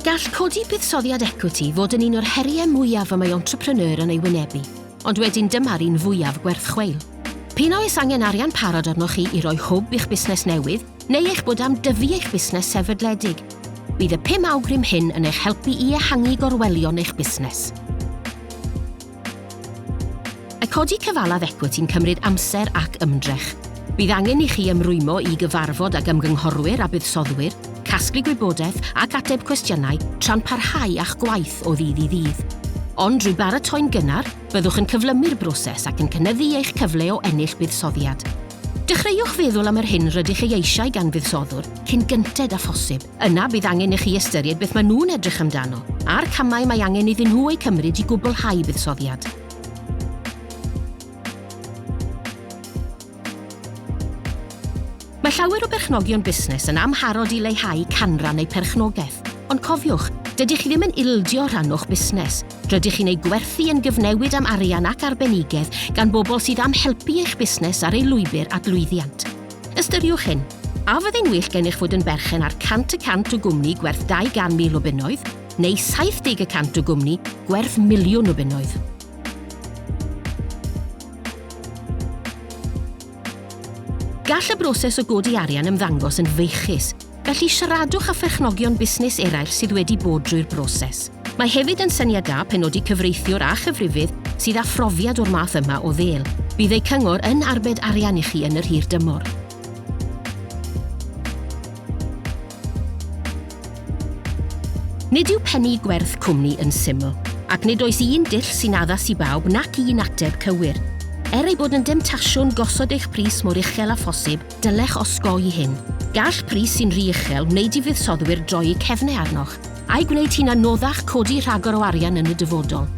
Gall codi buddsoddiad equity fod yn un o'r heriau mwyaf y mae entrepreneur yn ei wynebu, ond wedyn dyma'r un fwyaf gwerth chweil. P'un a oes angen arian parod arnoch chi i roi hwb i'ch busnes newydd, neu eich bod am dyfu eich busnes sefydledig. Bydd y pum awgrym hyn yn eich helpu i ehangu gorwelion eich busnes. I codi cyfalaf ecwiti'n cymryd amser ac ymdrech. Bydd angen i chi ymrwymo i gyfarfod ag ymgynghorwyr a buddsoddwyr, casglu gwybodaeth ac ateb cwestiynau tra'n parhau â'ch gwaith o ddydd i ddydd. Ond drwy baratoi'n gynnar, byddwch yn cyflymu'r broses ac yn cynyddu eich cyfle o ennill buddsoddiad. Dechreuwch feddwl am yr hyn rydych ei eisiau gan fuddsoddwr cyn gynted â phosib. Yna bydd angen i chi ystyried beth maen nhw'n edrych amdano, a'r camau mae angen iddyn nhw eu cymryd i gwblhau buddsoddiad. Mae llawer o berchnogion busnes yn amharod i leihau canran eu perchnogaeth, ond cofiwch, dydych chi ddim yn ildio rhan o'ch busnes. Rydych chi'n ei gwerthu yn gyfnewid am arian ac arbenigedd gan bobl sydd am helpu eich busnes ar ei lwybr at lwyddiant. Ystyriwch hyn, A fyddai'n well gennych fod yn berchen ar 100 y cant o gwmni gwerth 200,000 o bunnoedd, neu 70 y cant o gwmni gwerth miliwn o bunnoedd? Gall y broses o godi arian ymddangos yn feichus, Felly, siaradwch â pherchnogion busnes eraill sydd wedi bod drwy'r broses. Mae hefyd yn syniad da penodi cyfreithiwr a chyfrifydd sydd â phrofiad o'r math yma o ddêl. Bydd eu cyngor yn arbed arian i chi yn yr hir dymor. Nid yw pennu gwerth cwmni yn syml, ac nid oes un dull sy'n addas i bawb nac un ateb cywir. Er ei bod yn demtasiwn gosod eich pris mor uchel â phosib, Dylech osgoi hyn. Gall pris sy'n rhy uchel wneud i fuddsoddwyr droi'u cefnau arnoch, a'i gwneud hi'n anoddach codi rhagor o arian yn y dyfodol.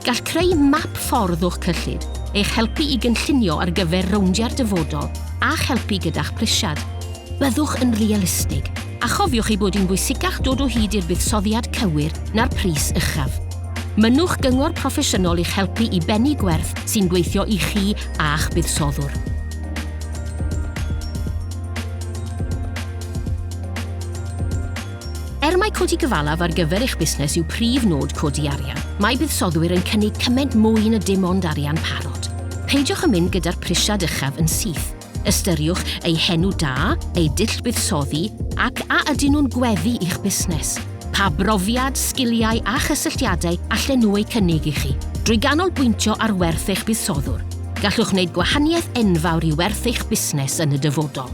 Gall creu map ffordd o'ch cyllid eich helpu i gynllunio ar gyfer rowndiau'r dyfodol a'ch helpu gyda'ch prisiad. Byddwch yn realistig, a chofiwch ei bod hi'n bwysicach dod o hyd i'r buddsoddiad cywir na'r pris uchaf. Mynnwch gyngor proffesiynol i'ch helpu i bennu gwerth sy'n gweithio i chi a'ch buddsoddwr. Er mae codi gyfalaf ar gyfer eich busnes yw prif nod codi arian, mae buddsoddwyr yn cynnig cymaint mwy na dim ond arian parod. Peidiwch â mynd gyda'r prisiad uchaf yn syth. Ystyriwch eu henw da, eu dull buddsoddi, ac a ydyn nhw'n gweddu i'ch busnes. Pa brofiad, sgiliau a chysylltiadau allen nhw eu cynnig i chi? Drwy ganolbwyntio ar werth eich buddsoddwr, gallwch wneud gwahaniaeth enfawr i werth eich busnes yn y dyfodol.